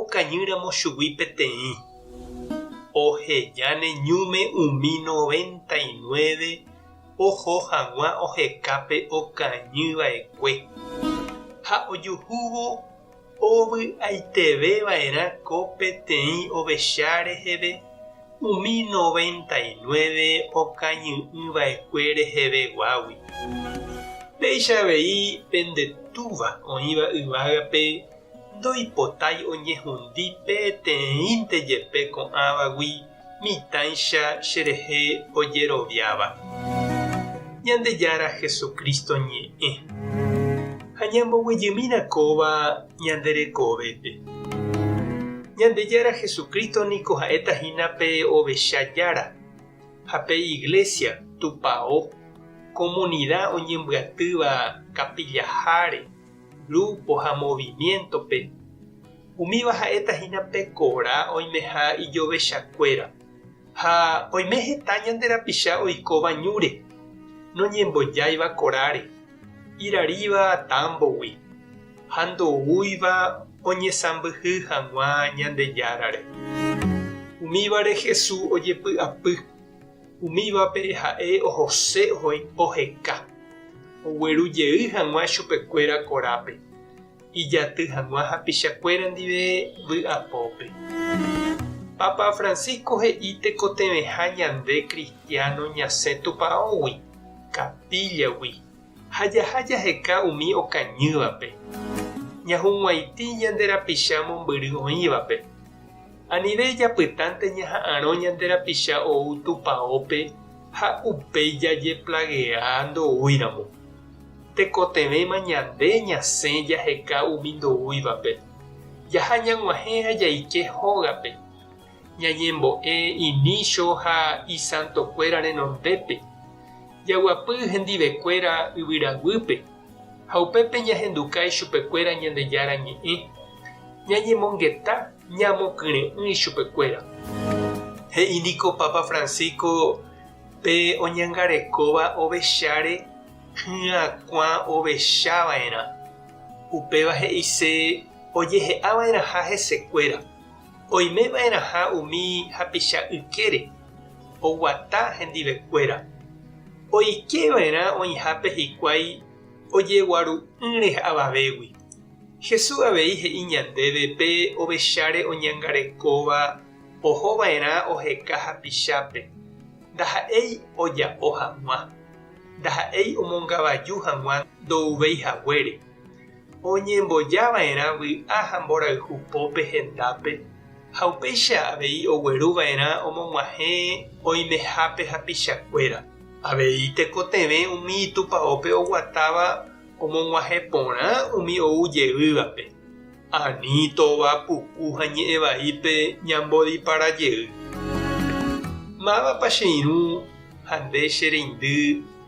Okañýramo chugui peteĩ, oheja ne ñúme umi noventa y nueve oho hag̃ua oheka pe okañy va'ekue, ha ojuhúvo ovy'aiteve va'erã ko peteĩ ovecha reheve umi noventa y nueve okañy'ỹ va'ekue reheve guágui. Péicha avei pende túva oĩva yvágape ndoipotái oñehundi peteĩnte jepe ko'ãvagui mitãicha cherehe ojeroviáva Ñandejára Jesucristo ñe'ẽ, ha ñamboguejymína kóva ñande rekovépe. Ñandejára Jesucristo niko ha'éta hína pe ovecha jára, ha pe iglesia, tupao, comunidad oñembyatýva kapillaháre, grúpo ha movimiéntope, umíva ha'éta hína pe kora oimeha ijovechakuéra, ha oime heta ñande rapicha oikóva ñúre, noñembojáiva koráre, iraríva támbogui, ha ndoúiva oñesãmbyhy hag̃ua Ñandejárare. Umívare Jesús ojepy'apy. Umívape ha'e ohose oho ipo heka, ogueru jey hag̃ua chupekuéra korápe, ijaty hag̃ua hapichakuéra ndive vy'apópe. Papa Francisco he'i tekotevẽha ñande kristiáno ñasẽ tupãógui, kapíllagui, ha jaha jaheka umi okañývape, ñahug̃uaitĩ ñande rapicha mombyry oĩvape. Anive japytánte ñaha'arõ ñande rapicha ou tupaópe ha upéi jajeplagea ndoúiramo. Tekotevẽma ñande ñasẽ jaheka umi ndoúivape, jaha ñag̃uahẽ ha jaike hógape. Ñañembo'e inícho ha isantokuéra renondépe, jaguapy hendivekuéra yvyraguýpe, ha upépe ñahenduka ichupekuéra Ñandejára Ñe'ẽ, ñañemongeta ñamokyre'ỹ ichupekuéra. He'i niko Papa Francisco pe oñangarekóva ovecháre hyakuã ovechava'erã, upéva he'ise ojehe'ava'erãha hesekuéra. Oimeva'erãha umi hapicha ykére oguata hendivekuéra, oikeva'erã oĩhápe hikuái ojeguaru'ỹre avavégui. Jesús avei he'i ñandéve pe ovecháre oñangarekóva ohova'erã oheka hapichápe, ndaha'éi oja'o hag̃ua, ndaha'éi omongavaju hag̃ua ndo'uvéi haguére. Oñemboja va'erã vy'a ha mborayhu pópe hendápe, ha upéicha avei ogueru va'erã omog̃uahẽ oimehápe hapichakuéra. Avei tekotevẽ umi itupaópe oguatáva omog̃uahẽ porã umi ou jeývape, ani tova, puku ha ñe'ẽ vaípe ñambodipara jey. Mávapa che irũ ha nde che reindy?